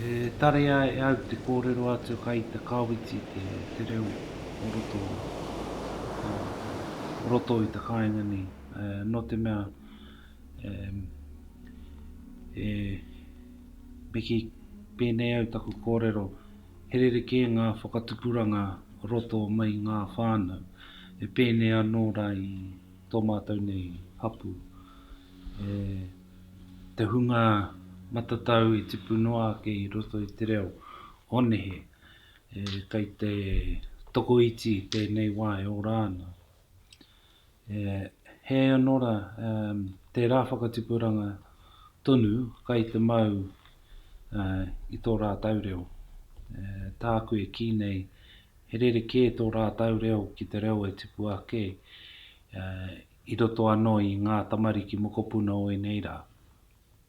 E tarea e au te kōrero atu kai te Kawiti te reo o roto o roto i te kāinga nei nō te mea e me kī pēnei au taku kōrero he rerekē ngā whakatupuranga roto mai i ngā whānau e pēnei anō rā i tō mātou nei hapū e. te hunga matatau i tipu noa ake i roto i te reo o nehe, e, kei te tokoiti i tēnei wā e ora ana. E, hē anō rā, e, tērā whakatipuranga tonu kai te mau e, i tō rātau reo. E, tāku e kī nei, he rerekē tō rātau reo ki te reo e tipu ake e, I roto anō i ngā tamariki mokopuna o ēnei rā.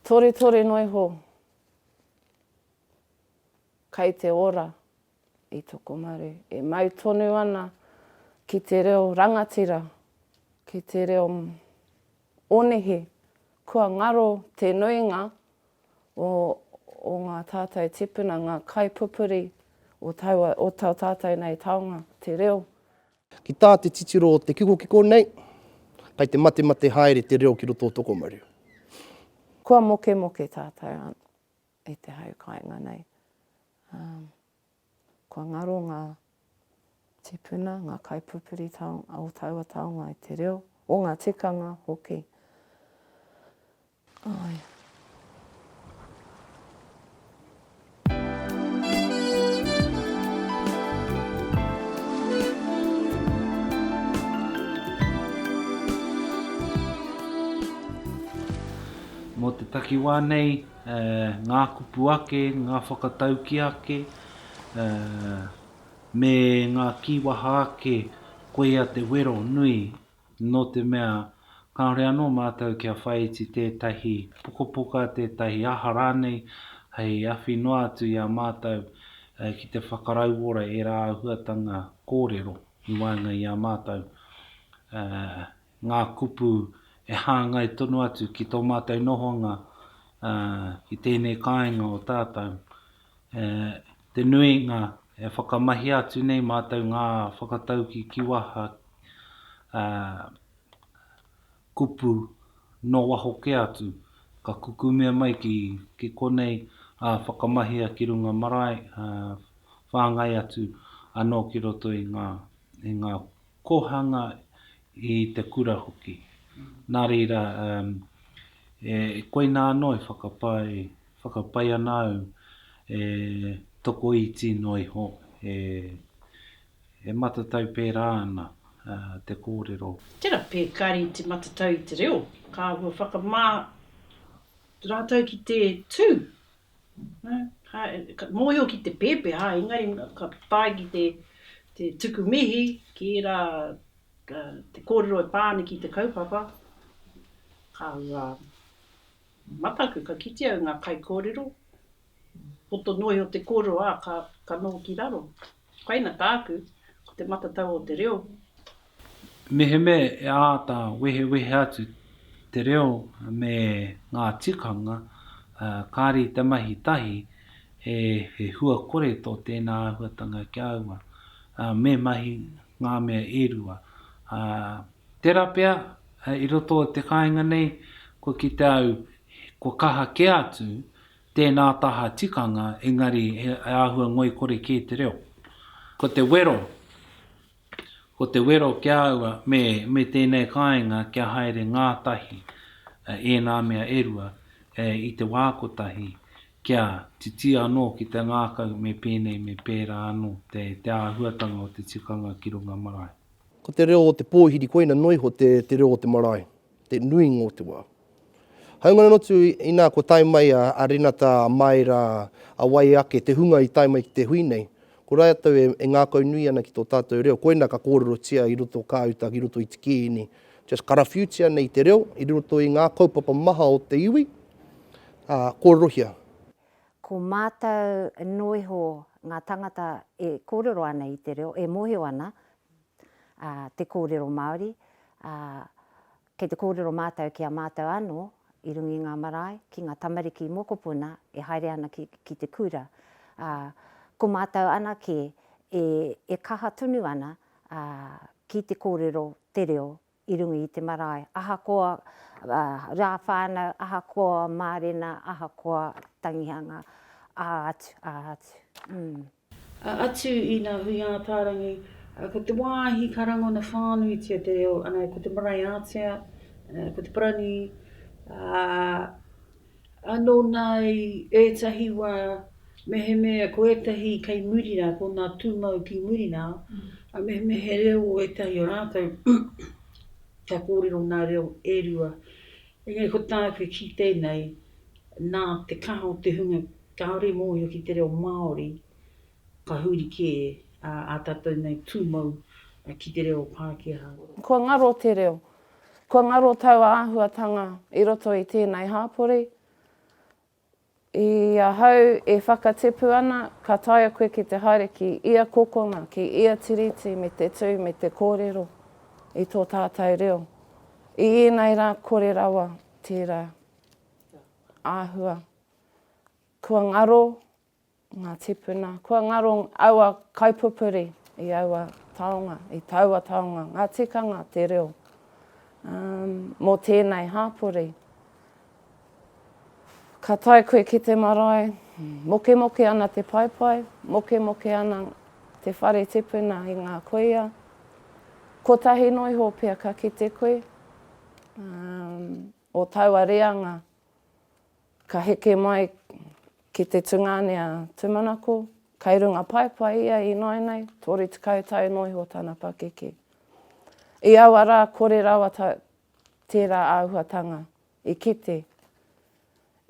Toretore noa iho kai te ora i Tokomaru e mau tonu ana ki te reo rangatira, ki te reo onihi. Kua ngaro te nuinga o ngā tātou tipuna, ngā kaipupuri o tau, o tau tātou nei taonga, te reo Ki tā te titiro o te kikokiko nei, kei te matemate haere te reo ki roto o Tokomaru. Kua mokemoke tātou i te hau kāinga nei. Kua ngaro ngā tīpuna, ngā kaipupuri o taua taonga i te reo, o ngā tikanga hoki. Mō te takiwā nei, ngā kupu ake, ngā whakatauki ake, me ngā kīwaha ake, koia te wero nui nō te mea kāore anō mātou kia whāiti tētahi pukapuka, tētahi aha rānei hei awhi noa atu i a mātou ki te whakarauora ērā āhuatanga kōrero i waenga i a mātou, ngā kupu e hāngai tonu atu ki tō mātou nohonga i tēnei kāinga o tātou, Te nuinga, e whakamahia atu nei mātou ngā whakatauki ki waha kupu nō waho kē atu, ka kukumea mai ki konei, whakamahia ki runga marae, whāngai atu anō ki roto i ngā kōhanga, i te kura hoki. Nā reira, koinā anō e whakapae Whakapae ana au e tokoiti noa iho, e matatau pērā ana te kōrero. Tērā pea kāre i te matatau i te reo, ka āhua whakamā rātou ki te tū. Ka mōhio ki te pēpeha, engari ka tae ki te tuku mihi ki ērā te kōrero e pā ana ki te kaupapa, ka Mataku, ka kite au nga kaikorero, poto noe o te korero a ka no ki raro. Koina taku, ko te matatau o te reo. Mehemea e āta wehewehe atu te reo me ngā tikanga, kāre i te mahi tahi, he hua kore tō tēnā āhuatanga ki a ua. Me mahi ngā mea e rua, Tērā pea, i roto i te kāinga nei, kua kite au, kua kaha kē atu tēnā taha tikanga, engari he āhua ngoikore kē te reo. Ko te wero, ko te wero ki a au me, me tēnei kāinga kia haere ngātahi ēnā mea e rua i te wā kotahi, kia titi anō ki te ngākau me pēnei me pērā anō te, te āhuatanga o te tikanga ki runga marae. Ko te reo o te pōhiri koina noa iho te, te reo o te marae, te nuinga o te wā. Haunga noa atu inā kua tae mai a, a Renata, a Maera, a wai ake, te hunga i tae mai ki te hui nei, ko rātou e, e ngākaunui ana ki tō tātou reo, koina ka kōrerotia i roto o kā uta ki roto i te kīngi, just karawhiutia nei te reo i roto i ngā kaupapa maha o te iwi, ā, kōrerohia. Ko mātou noa iho ngā tangata e kōrero ana i te reo, e mōhio ana te kōrero Māori, ā, kei te kōrero mātou ki a mātou anō i runga i ngā marae, ki ngā tamariki mokopuna e haere ana ki, ki te kura. Ā, ko mātou anake e, e kaha tonu ana, ā, ki te kōrero te reo I runga i te marae, ahakoa rā whānau, ahakoa mārena, ahakoa tangihanga, ā atu, ā atu, ū. Ā atu i ngā hui ātārangi, ko te wāhi ka rangona whānuitia te reo, anei ko te marae ātea, ko te parani, ā. Anō nā i ētahi wā, mehemea ko ētahi kei muri rā, ko ngā tūmau ki muri rā, ā, mehemea he reo o ētahi o rātou, kia kōrero ngā reo e rua. Engari ko tāku e kite nei, nā te kaha o te hunga kāore i mōhio ki te reo Māori, ka huri kē ā tātou nei tūmau ki te reo Pākehā. Kua ngaro te reo, Kua ngaro taua āhuatanga i roto i tēnei hāpori. I ahau e whakatipu ana, ka taea koe ki te haere ki ia kokona, ki ia tiriti me te tū, me te kōrero i tō tātou reo. I ēnei rā kore rawa tērā āhua. Kua ngaro Ngā tīpuna, kua ngaro aua kaipupuri i aua taonga, i taua taonga, ngā tikanga, te reo. Um, mō tēnei hāpori, ka tae koe ki te marae, mokemoke ana te paepae, mokemoke ana te whare tipuna i ngā kuia, kotahi noa iho pia ka kite koe, um, o taua reanga, Ka heke mai ki te tungāne a Tumanako, kai runga paepae ia ināinai, 30 tau noa iho tana pakeke. I aua rā kore rawa tērā āhuatanga i kite,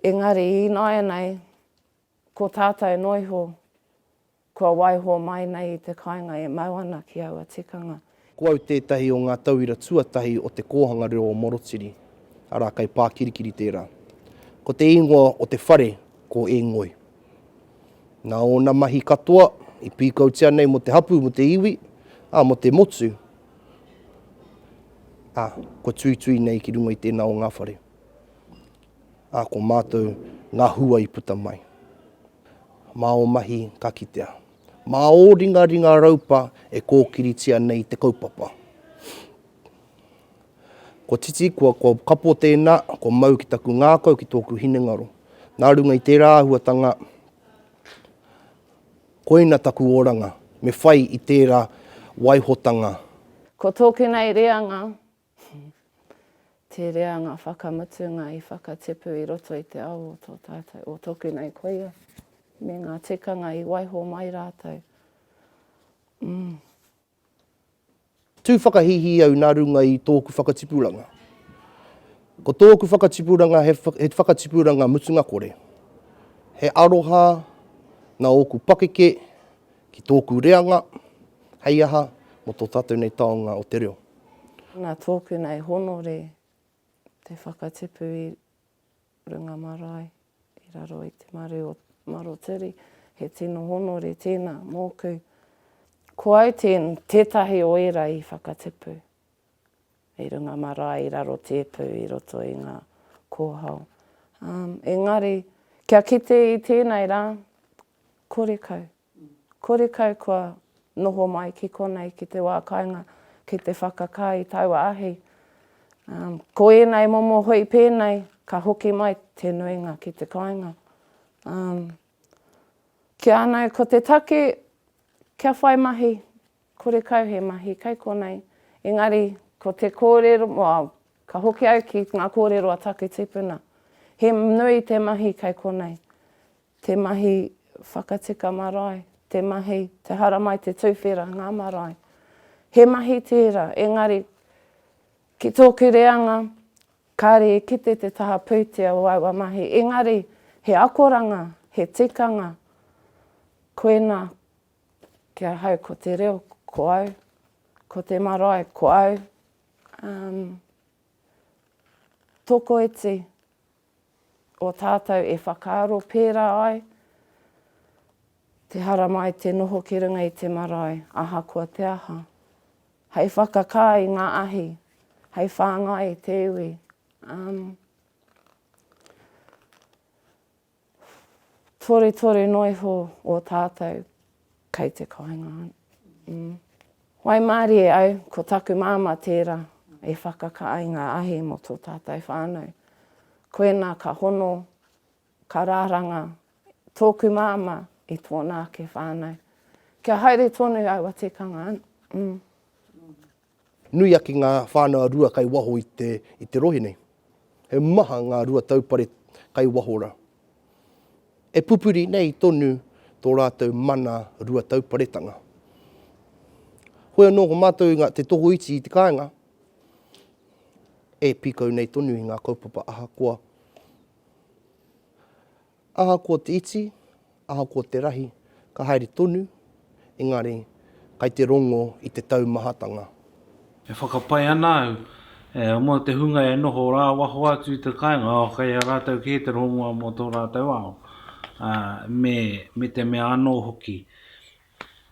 engari ināianei ko tātou noa iho Kua waiho mai nei i te kāinga e mau ana ki aua tikanga. Ko au tētahi o ngā tauira tuatahi o te kōhanga reo o Morotiri, arā, kei Pākirikiri tērā. Ko te ingoa o te whare ko E Ngoi. Nā ōna mahi katoa i pīkautia nei mō te hapū, mō te iwi, ā, mō te motu, ā, kua tuitui nei ki runga i tēnā o ngā whare, ā, ko mātou ngā hua i puta mai. Mā ō mahi ka kitea. Mā ō ringaringa raupa e kōkiritia nei te kaupapa. Kua titi, kua, kua kapo tēnā, kua mau ki taku ngākau, ki tōku hinengaro. Nā runga i tērā āhuatanga, koina taku oranga, me whai i tērā waihotanga. Ko tōku nei reanga, Te reanga whakamutunga i whakatipu i roto i te ao o tō tātou, o tōku nei koia, me ngā tikanga i waiho mai rātou. Mm. Tū whakahīhī au nā runga i tōku whakatipuranga. Ko tōku whakatipuranga he, he whakatipuranga mutunga kore. He aroha nā ōku pakeke Ki tōku reanga, hei aha, mō tō tātou nei taonga o te reo. Nā tōku nei honore te whakatipu i runga marae i raro i te maru o Marotiri. He tino honore tēnā mōku. Ko au tētahi o ērā i whakatipu. hei runga marae i raro tēpu i roto i ngā kōhao. Um, engari, kia kite i tēnei rā, kore kau. Kore kau kua noho mai ki konei, ki te wā kainga, ki te whakakā i taua ahi. Um, ko ēnei momo hoi pēnei, ka hoki mai te nuinga ki te kainga. Um, kia anei, ko te take, kia whai mahi, Kore kau he mahi kai konei. Engari, ko te kōrero, ka hoki au ki ngā kōrero a taku tipuna, he nui te mahi kai konei. Te mahi whakatika marae, te mahi, te haramai, te tuwhera, ngā marae. He mahi tērā, engari, ki tōku reanga, kāre e kite te taha pūtea o aua mahi. Engari, he akoranga, he tikanga, koinā, Ki ahau ko te reo, ko au, ko te marae, ko au. Um, tokoiti o tātou e whakaaro pērā ai, te haramai te noho ki runga i te marae, ahakoa te aha. Hei whakakā i ngā ahi, hei whāngai i te iwi. Um, Toretore noiho o tatou kei te kainga an. Waimarie au, ko taku mama tera e whakaka ai nga ahi mo to tatou whanau. Koina ka hono, ka raranga toku mama i tona ake whanau. Kia haere tonu aua tikanga an. Nui ake ngā whānau rua kai waho i te i te rohe nei. He maha ngā rua taupare kai waho ra. E pupuri nei tonu tō rātou mana rua tauparetanga. Hoi anō ko mātou i ngā te tokoiti i te kāinga e pīkau nei tonu i ngā kaupapa ahakoa Ahakoa te iti, ahakoa te rahi, ka haere tonu, engari, kai te rongo i te taumahatanga. E whakapae ana au, e, mō te hunga e noho rā waho atu i te kāinga, oh, kei a rātou kē te rongoa mō tō rātou ao, ā, me, me te mea anō hoki.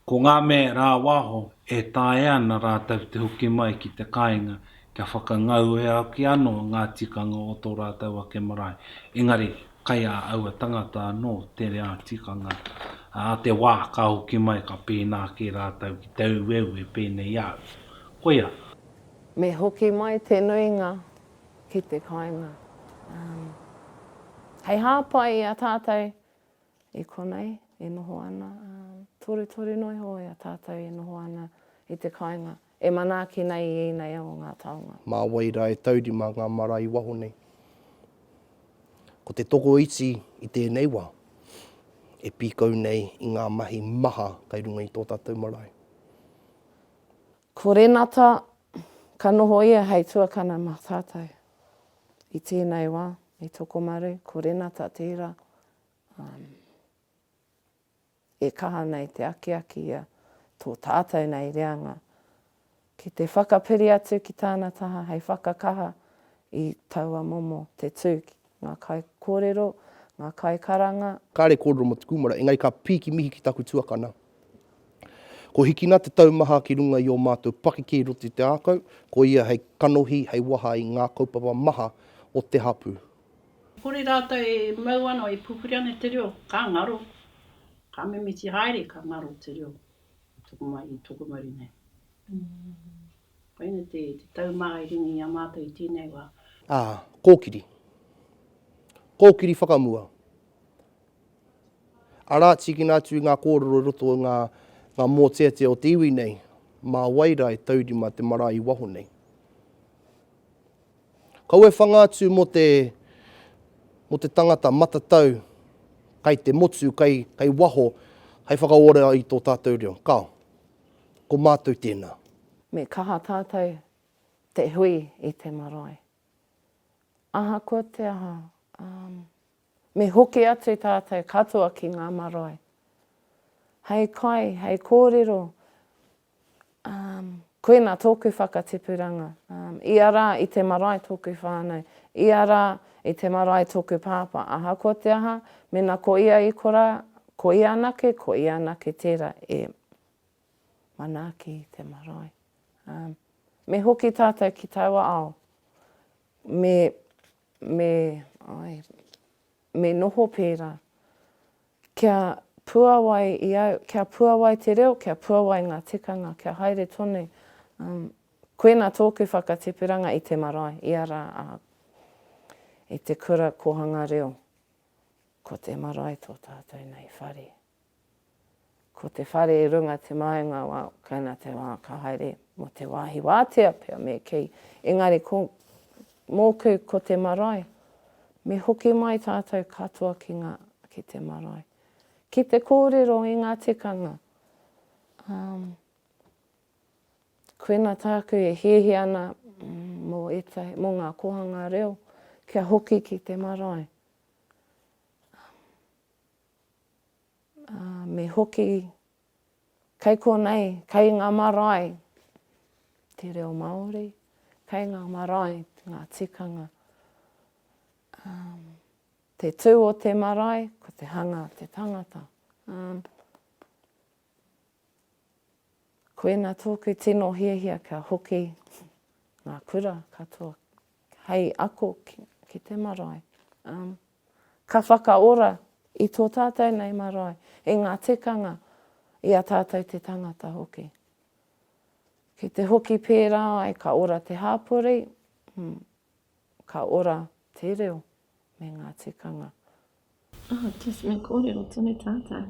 Ko ngā me rā waho e taea ana rātou te hoki mai ki te kāinga kia whakangau e au ki anō ngā tikanga o tō rātou ake marae, engari kai a aua tangata anō te rea tikanga, ā, te wā ka hoki mai ka pēnā kē rātou ki te aueue pēnei i a au. Koia. Me hoki mai te nuinga ki te kāinga. Hei hāpai i a tātou I konei e noho ana, ā, torutoru noa iho i a tātou e noho ana i te kāinga, e manaaki nei i ēnei o ngā taonga. Mā wai rā e taurima ngā marae waho nei? Ko te tokoiti i tēnei wā, e pīkau nei i ngā mahi maha kai runga i tō tātou marae. Ko Renata, ka noho ia hei tuakana mā tātou. I tēnei wā, i Tokomaru, ko Renata tērā, Um, e kaha ana e te akiaki ia tō tātou nei reanga ki te whakapiri atu ki tāna taha hei whakakaha i taua momo te tū ki ngā kai kōrero, ngā kai karanga. Kāre kōrero mō te kūmara, engari ka pīki mihi ki taku tuakana. Ko Hikina te taumaha ki runga i ō mātou pakeke i roto i te ākau, ko ia hei kanohi, hei waha i ngā kaupapa maha o te hapū. Kore rātou e mau ana, e pupuri ana i te reo, ka ngaro, ka mimiti haere, ka ngaro te reo tokomaha i tokomaru nei. Koina te taumaha i ringa i a mātou i tēnei wā. Ā, kōkiri. Kōkiri whakamua. Arā, tīkina atu i ngā kōrero i roto i ngā mōteatea o te iwi nei, mā wai rā e taurima te marae i waho nei. Kaua e whanga atu mō te, mō te tangata matatau kai te motu, kai, kai waho, hai whakaora i tō tātou reo. Kao. Ko mātou tēnā. Me kaha tātou te hui i te marae. Ahakoa te aha, um, me hoki atu tātou katoa ki ngā marae. Hei kai, hei kōrero Um, koina tōku whakatipuranga. Um, ia rā i te marae tōku whānau. Ia rā i te marae tōku pāpā. Ahakoa te aha, mena ko ia i kora, ko ia anake, ko ia anake tērā e manaaki i te marae. Um, me hoki tātou ki taua ao. Me, me, ai, me noho pērā. Kia puawai i au, kia puawai te reo, kia puawai ngā tikanga, kia haere tonu, um, koina tōku whakatipu-ranga i te marae, ia rā, ā, i te kura kōhanga reo, ko te marae tō tātou nei whare. Ko te whare i runga te maenga wā Kaina te wā ka haere mō te wāhi wātea pea me kī, engari ko mōku ko te marae, me hoki mai tātou katoa ki ngā, ki te marae. Ki te kōrero i ngā tikanga, umm, koina tāku e hiahia ana mō ētahi, mō ngā kōhanga reo kia hoki ki te marae. Umm. Ā, me hoki kei konei, kei ngā marae te reo Māori, kei ngā marae ngā tikanga. Ā, te tū o te marae, ko te hanga a te tangata. Ā, koina tōku tino hiahia kia hoki ngā kura katoa hei ako ki te marae. Ā. Ka whakaora i tō tātou nei marae, i ngā tikanga, i a tātou te tangata hoki. Ki te hoki pērā ai, ka ora te hāpori, mm, ka ora te reo me ngā tikanga. Oh, just me kōrero tonu tātou,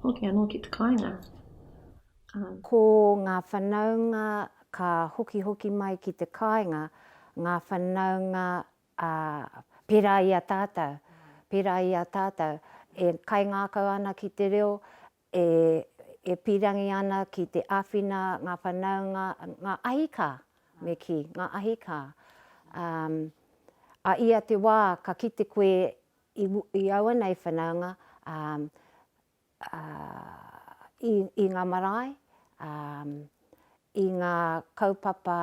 hoki anō ki te kāinga. Um. Ko ngā whanaunga ka hokihoki mai ki te kāinga, ngā whanaunga Ā, pērā i a tātou, pērā i a tātou e kaingākau ana ki te reo, e, e pīrangi ana ki te āwhina ngā whanaunga, ngā ahikā, me kī, ngā ahikā. Ā, a ia te wā ka kite koe i, i aua nei whanaunga, ā, i ngā marae, i ngā kaupapa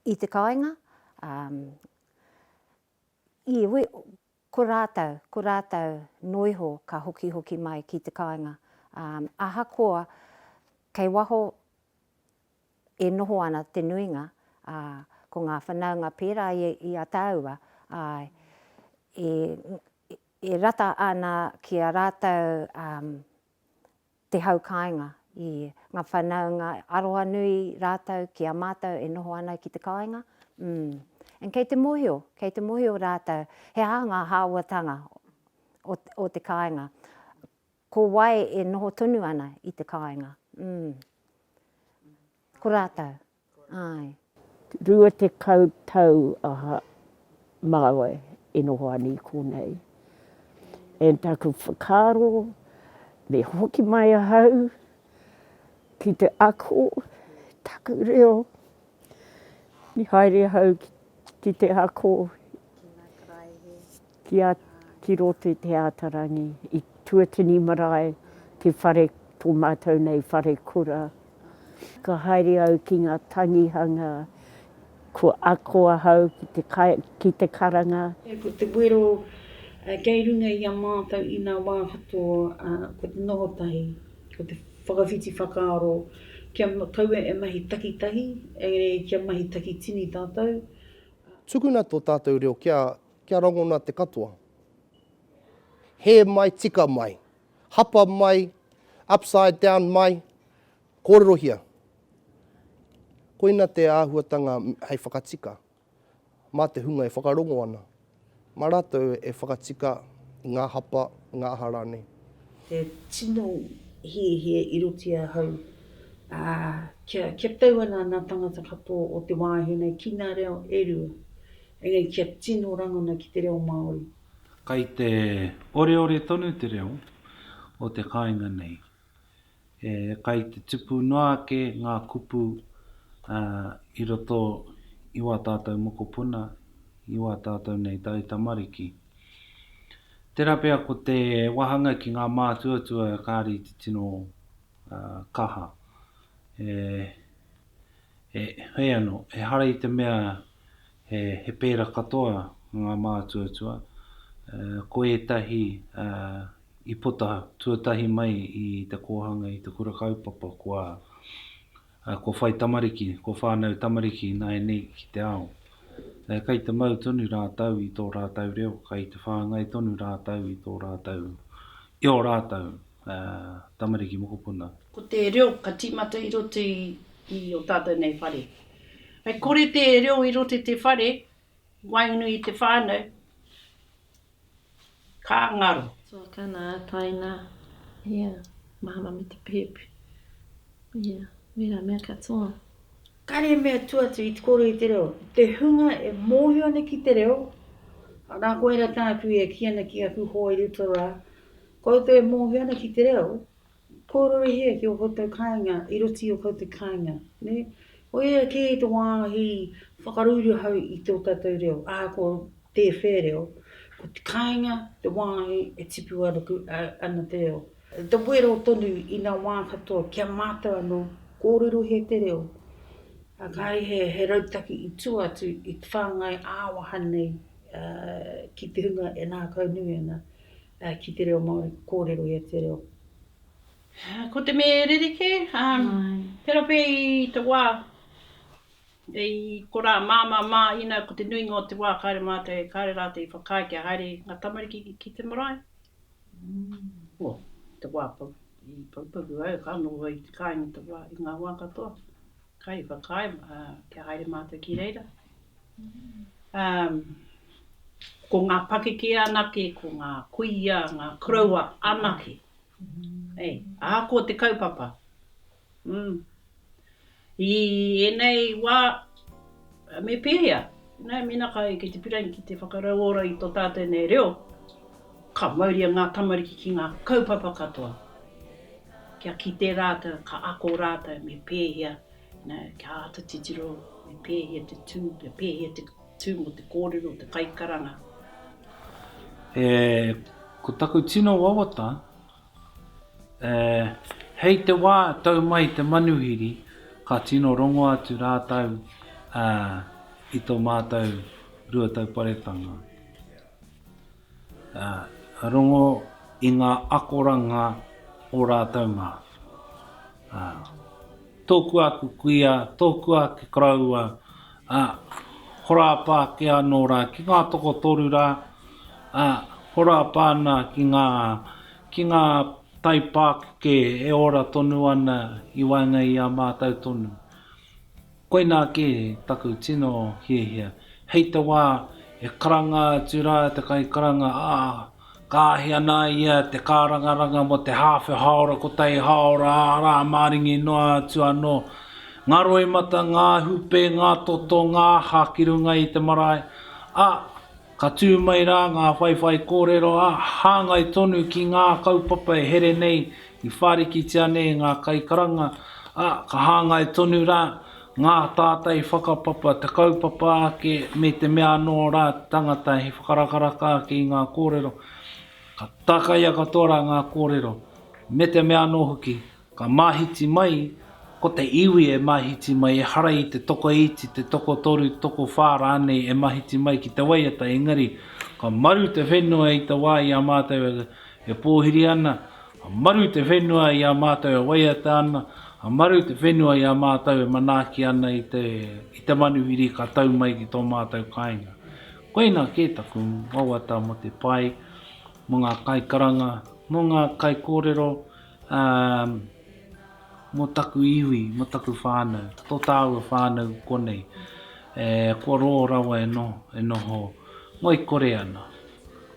i te kāinga, ko rātou, ko rātou noa iho ka hokihoki mai ki te kāinga. Ahakoa kei waho e noho ana te nuinga, ko ngā whanaunga pērā i a tāua, āe, E rata ana ki a rātou te hau kāinga. I ngā whanaunga arohanui rātou ki a mātou e noho ana ki te kāinga. And kei te mōhio, kei te mōhio rātou he aha ngā hāwatanga o te kāinga. Ko wai e noho tonu ana i te kāinga. Ko rātou. Āe. Rua tekau tau aha māua e noho ana i konei. And taku whakaaro, me hoki mai ahau ki te ako taku reo, me haere ahau ki te ako. Ki nga karaehe. Ki a Ki roto i te ata rangi i Tuatini marae te whare to matou nei whare kura. Ka haere au ki nga tangihanga ko ako ahau ki te ki te karanga. Ko te wero kei runga i a matou ina wa katoa ko te noho tahi, ko te whakawhiti whakaaro kia kaua e mahi takitahi engari kia mahi takitini tatou. Tukuna to tatou reo kia Kia rangona te katoa. Hē mai, tika mai. Hapa mai, upside down mai, kōrerohia. Koina te āhuatanga hei whakatika mā te hunga e whakarongo ana, mā rātou e whakatika i ngā hapa, ngā aha rānei. Te tino hiahia i roti ahau, ā, kia tau ana ngā tāngata katoa o te wāhi nei ki ngā reo e rua. Engari kia tino rangona ki te reo Māori. Kai te oreore tonu te reo o te kāinga nei. E kai te tupu noa ake ngā kupu i roto i wā tātou mokopuna, i wā tātou nei taitamariki. Tērā pea ko te wāhanga ki ngā mātuatua kāre i te tino kaha. E. He ano, ehara i te mea he pera katoa nga mātuatua, ko etahi i puta tuatahi mai i te kōhanga i te kura kaupapa kua whai tamariki, kua whānau tamariki ināianei ki te ao. Kei te mau tonu rātou i tō rātou reo, kei te whāngai tonu rātou i tō rātou, i o rātou ngā tamariki mokopuna. Ko te reo ka tīmata i roto i o tātou nei whare. Hei kore te reo i roto i te whare, waenganui i te whānau, ka ngaro. Tuakana, ataina, ia, mahana me te pēpi, ia, wērā mea katoa. Kāre he mea tua atu i te kōrero i te reo, te hunga e mōhio ana ki te reo, arā koira tāku e kī ana ki aku hoa i roto rā, Koutou e mōhio ana ki te reo, kōrore hea ki ō koutou kāinga i roto i ō koutou kāinga, nē? Ko ia kē te wāhi whakaruiru hau i tō tātou reo, ahakoa tē whē reo, ko te kāinga te wāhi e tipu ana te reo. Te wero tonu i ngā wā katoa ki a mātou anō, kōrero hea te reo, ā, kāre he rautaki i tua atu i te whāngai ā-waha nei ki te hunga e ngākaunui ana. ki te reo Māori, ka kōrero ia te reo. Ko te mea e rerekē, tērā pea i te wā, i konā māmā mā, inā ko te nuinga o te wā kāre mātou e kāre rātou i whakaae kia haere ngā tamariki ki te marae, o, te wā pau, i Poupoku au, ka noho au i te kāinga te wā, i ngā wā katoa. kai whakaae kia haere mātou ki reira. Ko ngā pakeke anake, ko ngā kuia, ngā koroua anake. Ahakoa te kaupapa. I ēnei wā, Me pēhea? Nē, mēnā ka eke te pirain ki te whakarauora i tō tātou nei reo, ka mauria ngā tamariki ki ngā kaupapa katoa, kia kite rātou, ka ako rātou me pēhea, kia āta titiro, me pēhea te tū, me pēhea te tū mō te kōrero o te kaikaranga. E, ko taku tino wawata, Ē, hei te wā tau mai te manuhiri, ka tino rongo atu rātou, ā, i tō mātou rua tauparetanga, ā, ka rongo i ngā akoranga o rātou mā, ā, tōku āku kuia, tōku āku koroua, Ā, horapa ake anō rā ki ngā tokotoru rā, ā, horapa ana ki ngā, ki ngā taipākeke e ora tonu ana i waenga i a mātou tonu. Koinā kē taku tino hiahia, hei te wā e karanga atu rā te kaikaranga, ā, Ka ahi ana ia te kārangaranga mō te hāwhe hāora kotahi hāora ā-rā maringi noa atu anō. Ngā roimata, ngā hūpē, ngā toto, ngā aha ki runga i te marae, ā, ka tū mai rā ngā whaiwhai kōrero, ā, hāngai tonu ki ngā kaupapa e here nei i whārikitia nei ngā kaikaranga, ā, ka hāngai tonu rā Ngā tātai whakapapa, te kaupapa ake me te mea anō rā te tangata he whakarakaraka ake i ngā kōrero, ka tākaia katoa rā ngā kōrero, me te mea anō hoki, ka māhiti mai, ko te iwi e māhiti mai, ehara i te tokoiti, te tokotoru, tokowhā rānei e māhiti mai ki te waiata, engari, ka maru te whenua i te wā i a mātou e pōhiri ana, Ka maru te whenua i a mātou e waiata ana, ka maru te whenua i a mātou e manaaki ana i te, i te manuhiri ka tau mai ki tō mātou kāinga. Koinā kē taku wawata mō te pai, mō ngā kaikaranga, mō ngā kaikōrero, ā, mō taku iwi, mō taku whānau, tō tāua whānau konei, e, kua rō rawa e noho, e noho ngoikore ana.